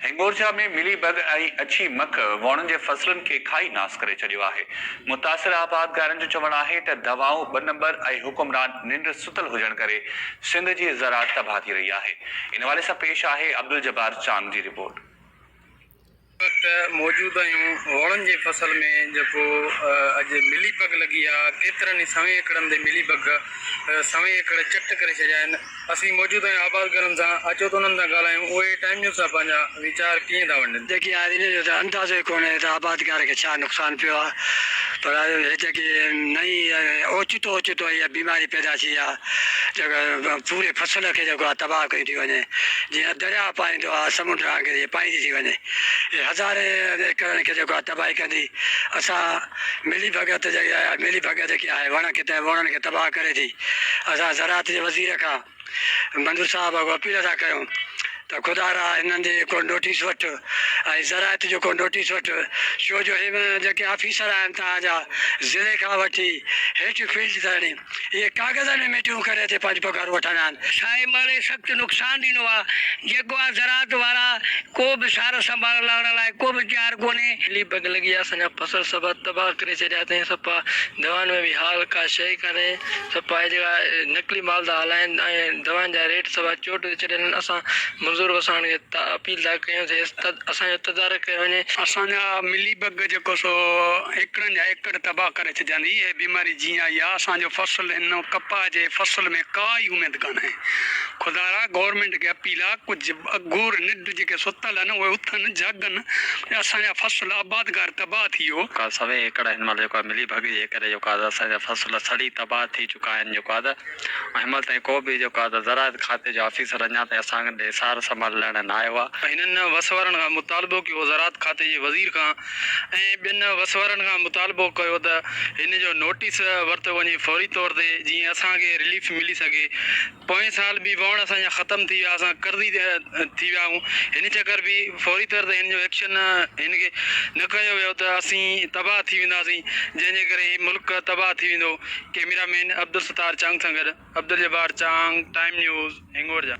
هنگورجا ۾ ملي بگ ۽ اڇي مک وڻن جي فصلن کي کائي ناس ڪري ڇڏيو آهي، متاثر آبادگارن جو چوڻ آهي ته دوائون ٻه نمبر ۽ حڪمران ننڊ ستل هجڻ ڪري سنڌ جي زراعت تباهه ٿي رهي آهي، ان حوالي سان پيش آهي عبدالجبار چانگ جي رپورٽ. هن وقت موجود آهيون وڻن جي فصل ۾ جيڪو اڄ ملي بگ لڳي آهي، ڪيترن ئي سوين ايڪڙن تي ملي بگ سوين ايڪڙ چٽ ڪري ڇڏيا آهن، اسين موجود ۽ آباد گهرن سان اچو ته انهن سان ڳالهايون اهي ٽائيم نيوز سان پنهنجا ويچار ڪيئن ٿا ونڊن. جيڪي آهن انهن جو ته اندازو ئي ڪونهي ته آبادگار کي ڇا نقصان پيو آهي پر هي جيڪي نئين اوچتو اوچتو اها بيماري پيدا ٿي آهي جيڪا پوري فصل کي جيڪو آهي تباهه ڪئي ٿي وڃي جيئن درياء پائيندو آهي سمنڊ وانگر هي پائيندي ٿي وڃي هي هزارين ايڪڙن کي جيڪو آهي تباهي ڪندي اسان ملي ڀڳت جيڪي آهي ملي ڀڳت جيڪي آهي وڻ کي ته وڻن کي تباهه ڪري ٿي. اسان زراعت جي وزير کان منظور صاحب اھو اپيل ٿا ڪريون ته خدا را انھن جي ڪو نوٽيس وٺ ۽ زراعت جو ڪو نوٽيس وٺ ڇو جو اھي جيڪي آفيسر آھن توھان جا ضلعي کان وٺي ھيٺ فيلڊ تائڻي اھي ڪاغذن ۾ ميٽنگون ڪري اتي پنھنجون پگھارون وٺندا آھن. سائين مھڙي سخت نقصان ڏنو آ جيڪو آ زراعت وارا ڪو به سار سنڀال لھڻ لاء ڪو به تيار ڪونھي. علي بيگ لڳي آ سڃاپ. فصل سڀا تباهه ڪري ڇڏيا اٿئين سپا دوائن ۾ به حال ڪا شيء ڪانهي سپا اهي جيڪا نقلي مال ٿا هلائين ۽ دوائن جا ريٽ سڀا چوٽ تي چڙهيل آهن اسان منظور وساڻ کي اپيل ٿا ڪيون ته اسان جو تدارڪ ڪيو وڃي. اسان جا ملي بگ جيڪو سو ايڪڙن جا ايڪڙ تباهه ڪري ڇڏيا اٿئين هيء بيماري جيئن آئي آهي اسان جو فصل هن ڪپاهه جي فصل ۾ ڪا ئي اميد ڪانهي خدايا گورنمينٽ کي اپيل آهي ڪجهه اگهور نڊ جيڪي ستل آهن، اهي اٿن، جاڳن، ۽ اسان جا فصل آبادگار تباهه ٿي ويو. جيڪا سوين ايڪڙ هن مهل جيڪو آهي ملي ڀڳي جي ڪري جيڪو آهي اسان جا فصل سڙي تباهه ٿي چڪا آهن جيڪو آهي ته هن مهل تائين ڪو به جيڪو آهي ته زراعت کاتي جو آفيسر اڃا تائين اسان ڏي سار سنڀال لهڻ نه آيو آهي. هنن وس وارن کان مطالبو ڪيو زراعت کاتي جي وزير کان ۽ ٻين وس وارن کان مطالبو ڪيو ته هن جو نوٽيس ورتو وڃي فوري طور تي جيئن اسان کي رليف ملي سگهي. پوئين سال به وهڻ اسان جا ختم ٿي ويا، اسان قرضي ٿي ويا آهيون، هن چڪر به فوري طور تي هن جو ايڪشن هن کي نه ڪيو ويو ته اسين تباهه ٿي وينداسين، جنهن جي ڪري هي ملڪ تباهه ٿي ويندو، ڪيميرا مين عبدالستار چانگ سان گڏ عبدالجبار چانگ، ٽائيم نيوز، هنگورجا.